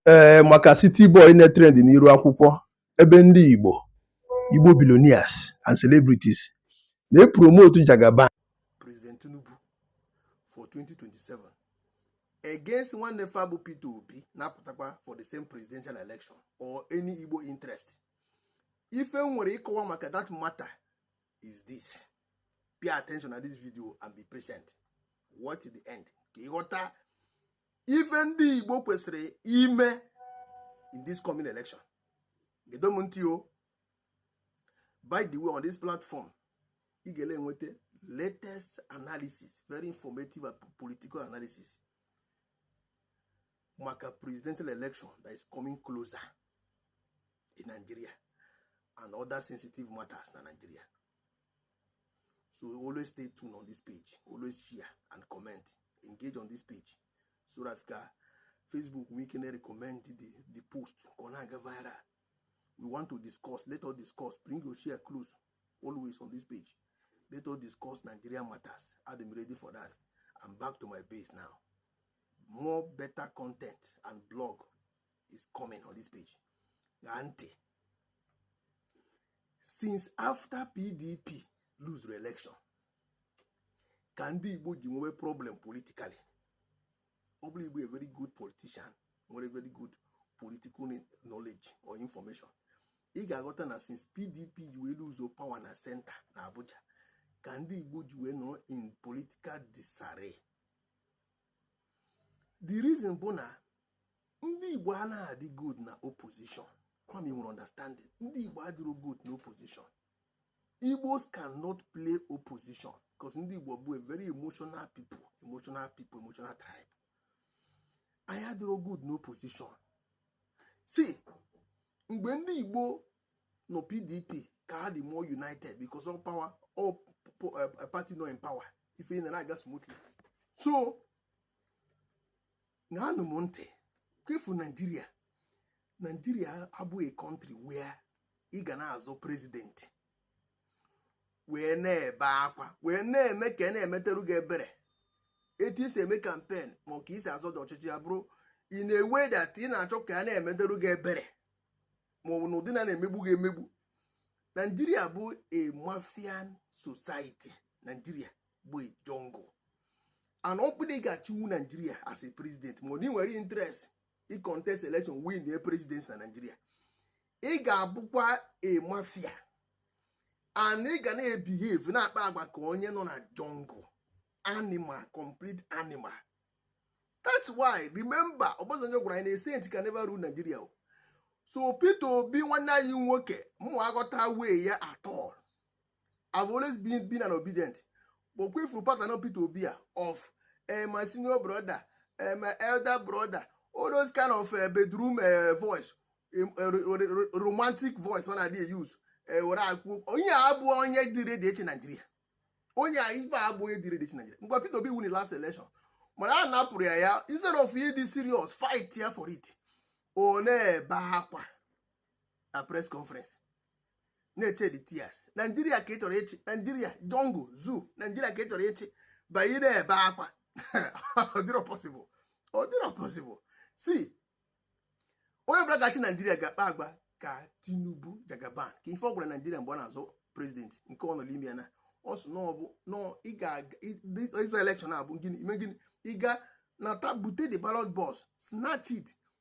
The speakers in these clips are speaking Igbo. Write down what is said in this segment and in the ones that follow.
ee maka City Boy na-etrend n'iru akwụkwọ ebe ndị Igbo Igbo billionaires and celebrities na-epromotu Jagaba President Tinubu for 2027 against nwanne fa bụ Peter Obi na-apụtakwa for the same presidential election or any Igbo interest ife m nwere ịkọwa maka that matter is this pay attention na this video and be patient watch the end ka ị ghọta ife ndị Igbo kwesịrị ime in this coming election gedo m ntị o by the way on this platform ị ga na-enweta latest analysis very informative and political analysis maka presidential election that is coming closer in Nigeria and other sensitive matters na Nigeria so always stay tuned on this page always share and comment engage on this page so that ka facebook nwee ike na-recommend the, the post ka ọ na-aga viral we want to discuss let us discuss bring your share close always on this page let us discuss nigeria matters i'm ready for that i'm back to my base now more better content and blog is coming on this page gee ntị since after pdp lose re election ka ndị igbo ji nwewe problem politically ọ bụrụ ị bụ a very good politician nwere very good political knowledge or information ị ga-aghọta na since pdp ji wee lose power na center na abuja ka ndị igbo ji wee nọrọ in political disarray the reason bụ na ndị igbo anaghị adị good na opposition ka unu wee understand it ndị igbo adịrọ good na opposition igbos cannot play opposition because ndị igbo bụ a very emotional people emotional people emotional tribe anyị adịrọ good na opposition si mgbe ndị igbo nọ pdp ka ha dị more united because ọ power ọ eh, party nọ in power ife na-aga smoothly so ṅaanụ m ntị careful Nigeria Nigeria abụghị country where ị ga na-azọ president wee na-ebe akwa wee na-eme ka a na-emeteru gị ebere etu i si eme campaign ma ọ ka i si azọ the ọchịchị ya bụrụ in a way that ị na-achọ ka a na-emeteru gị ebere ma ọ bụ n'ụdị na a na-emegbu gị emegbu Nigeria bụ a mafian society Nigeria bụ jungle and ọ bụrụ ị ga-achịwu Nigeria as a president ma ị nwere interest ịcontest election win the presidency na Nigeria ị ga-abụkwa a mafia and ị ga na-ebehave na-akpa agwa ka onye nọ na jungle animal complete animal that's why remember Obasanjo gwara anyị na saint can never rule Nigeria so Peter Obi nwanne anyị nwoke ama aghọtawu ya at all I've always been, been an Obidient but ọ kwa ị fụrụ pattern Peter Obi a of eh, my senior brother eh, my elder brother all those kind of eh, bedroom eh, voice eh, ro- ro- ro- romantic voice ọ na-adị use eh, were ekwu onye a abụ onye dị ready ịchị Naijiria onye a ife a abụ onye dị ready ịchị Naijiria ngwa Peter Obi win the last election mana a napụrụ ya ya instead of ịdị serious fightịa for it ọ na-ebe akwa na press conference na-eshed tears Nigeria ka ị chọrọ ịchị Nigeria jungle zoo Nigeria ka ị chọrọ ịchị by ịna-ebe akwa ọ dịrọ possible ọ dịrọ possible si onye ọbụla ga-achị Nigeria ga-akpa agwa ka Tinubu Jagaban kee ife ọ gwara Nigeria mgbe ọ na-azọ prezidenti nke ọ nọ n'ime ya na ọ sị na ọ bụ na ị ga-aga ịzọ elekshọn abụ gịnị ime gịnị ị ga-anata bute the ballot box snatch it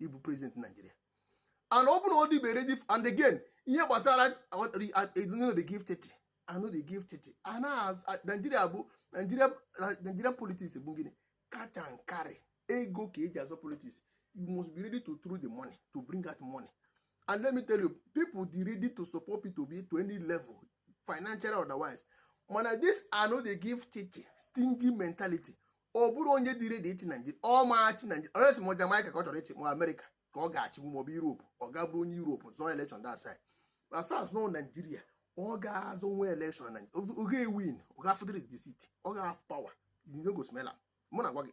ịbụ prezident naijiria and ọ bụrụ na ọ dịbe ready and again ihe gbasara i no dey give shishi i no dey give shishi naijiria bụ naijiria politics bụ gịnị cash and carry ego ka eji azọ politics you must be ready to throw the money to bring out money and let me tell you people dey ready to support Peter Obi to any level financially otherwise mana this i no dey give shishi stingy mentality ọ bụrọ onye dị redi ịchị naijiria ọ ma achị naijiria unless ma jamaika ka ọ chọrọ ịchị ma amerịka ka ọ ga-achị ma ọ bụ europe ọ ga bụrụ onye europe zọọ elekshọn that side ma france na naijiria ọ ga-azọ nwa elekshọn na ọ ga-ewin ọ ga-afụdịrị the seat ọ ga-afụ pawa e no go smell am mụ na-agwa gị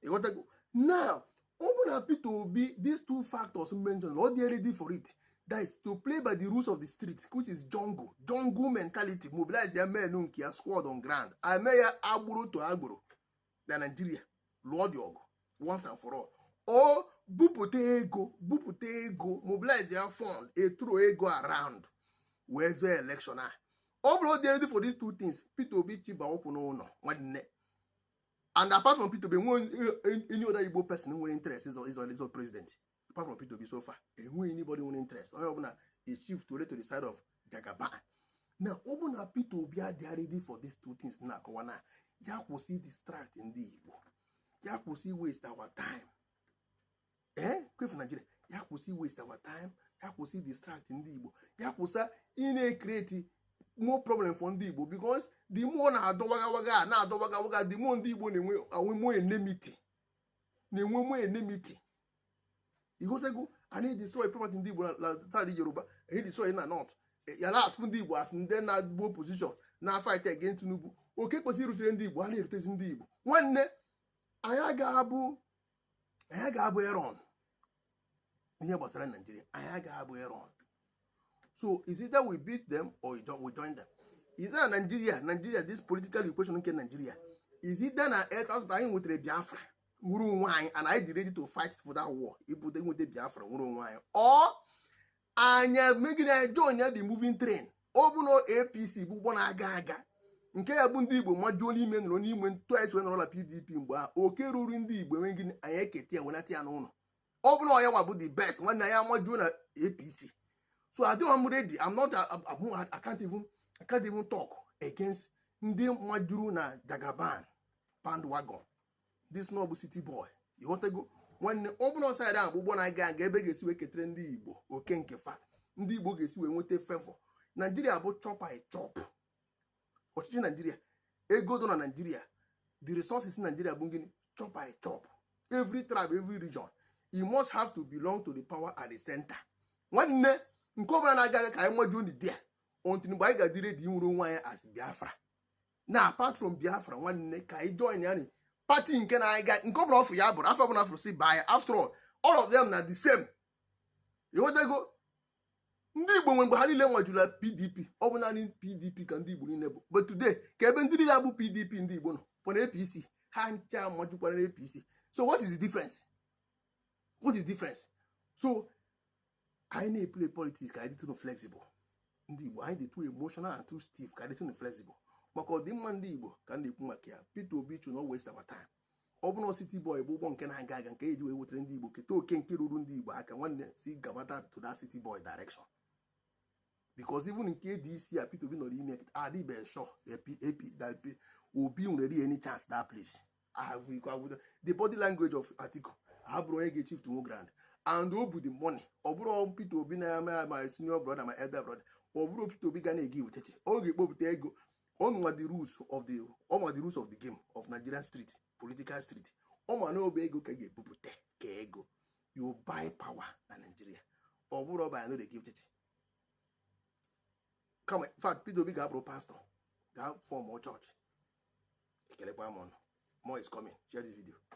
ị ghọtago na ọ bụ na Peter Obi these two factors mentioned na ọ dị ready for it that is to play by the rules of the street which is jungle jungle mentality mobilizịa men nke ya squad on ground e mee ya agboro to agboro na Nigeria lụọ the ọgụ once and for all o bupụta ego bupụta ego mobilizịa fund e throw ego around wee zọọ election a ọ bụrụ dị ready for these two things Peter Obi chịba ụkwụ n'ụlọ nwanne and apart from Peter Obi e nwe any other Igbo person nwere interest ịzọ ịzọ ịzọ president apart from Peter Obi so far e nwe anybody nwere interest onye ọbụla eshift to the side of Jagaban na ọ bụ na Peter Obi adịghị ready for these two things na-akọwa na ya kwụsị distract ndị Igbo ya kwụsị waste our time ee eh, kwefu naijiria ya kwụsị waste our time ya kwụsị distract ndị igbo ya kwụsị ịna-ecreate more problem for ndị igbo because the more na-adọ wagawaga a na-adọ wagawaga the more ndị igbo na-enwe enwe more enmity na-enwe more enmity ị ghọtago a na-edestroy property ndị igbo na side yoruba a na-edestroy na north eh, a na-afụ ndị igbo as ndị na-agbo opposition na-afight against tinubu oke kwesịrị irutere ndị igbo a na-erutezi ndị igbo nwanne anyị agaghị abụ anyị ga-abụ eron ihe gbasara naijiria anyị ga-abụ eron so is either we beat them or we join them is na naijiria naijiria this political equation nke naijiria is either na etasụt anyị nwetara biafra nwere onwe anyị and anyị dị ready to fight for that war ibute nweta biafra nwere onwe anyị ọ anyị mee gịnị anyị join ya the moving train ọ bụrụ na apc bụ ụgbọ na-aga aga nke ya bụ ndị igbo majuo n'ime nọrọ n'ime etu e si wee nọrọla pdp mgbe a oke ruru ndị igbo e mee gịnị anyị eketa ya wenata ya n'ụlọ ọ bụrụ na ya nwa bụ the best nwanne anyị amajuo na apc so adịghị m ready I'm not abụ I can't even I can't even talk against ndị majuru na jagaban bandwagon this no bụ city boy ịghọtago nwanne ọ bụrụ side ahụ ụgbọ na-aga aga ebe a ga-esi wee ketere ndị igbo oke nke fa ndị igbo ga-esi wee nweta favour naijiria bụ chop i chop ọchịchị naijiria ego dọ na naijiria the resources naijiria bụ gịnị chop i chop every tribe every region you must have to belong to the power at the center nwanne nke ọbụla na-aga aga ka anyị majuo nụ there until mgbe anyị ga-adị ready inwere onwe anyị as biafra na apart from biafra nwanne ka anyị join ya party nke na-aga aga nke ọbụla ọ fụrụ ya bụrụ afọ ọbụla a fụrụ si baa ya after all all of them na the same ịghọtago ndị igbo nwe mgbe ha niile majula pdp ọ bụ naanị pdp ka ndị igbo niile bụ but today ka ebe ndị niile ahụ bụ pdp ndị igbo nọ ọ bụ na apc ha ncha majukwara apc so what is the difference what is the difference so anyị na-eplay politics ka anyị dịtụnụ flexible ndị igbo anyị dị too emotional and too stiff ka anyị dịtụnụ flexible maka ọdịmma ndị igbo ka m na-ekwu maka ya Peter Obi should not waste our time ọ bụrụ City Boy bụ ụgbọ nke na-aga aga nke e ji wee wetara ndị igbo keta oke nke ruru ndị igbo aka nwanne si gabata to that City Boy direction because even nke ADC a Peter Obi nọrọ n'ime adịbe sure obi nwere any chance that place ahụ iko agwụdo the body language of Atiku abụrọ onye ga-eshift ground and o bu the money ọ bụrọ Peter Obi na-eme my senior brother my elder brother ọ bụrọ Peter Obi ga na-egive shishi ọ ga-ekpopụta ego ọ ma the rules of the ọ ma the rules of the game of Nigerian street political street ọ ma na ọ bụ ego ka e ga-ebupụta ka ego you buy power na Nigeria ọ bụrọ by I no dey give shishi kama in fact Peter Obi gaa bụrụ pastor gaa form church ekelekwa m ụnụ more is coming share this video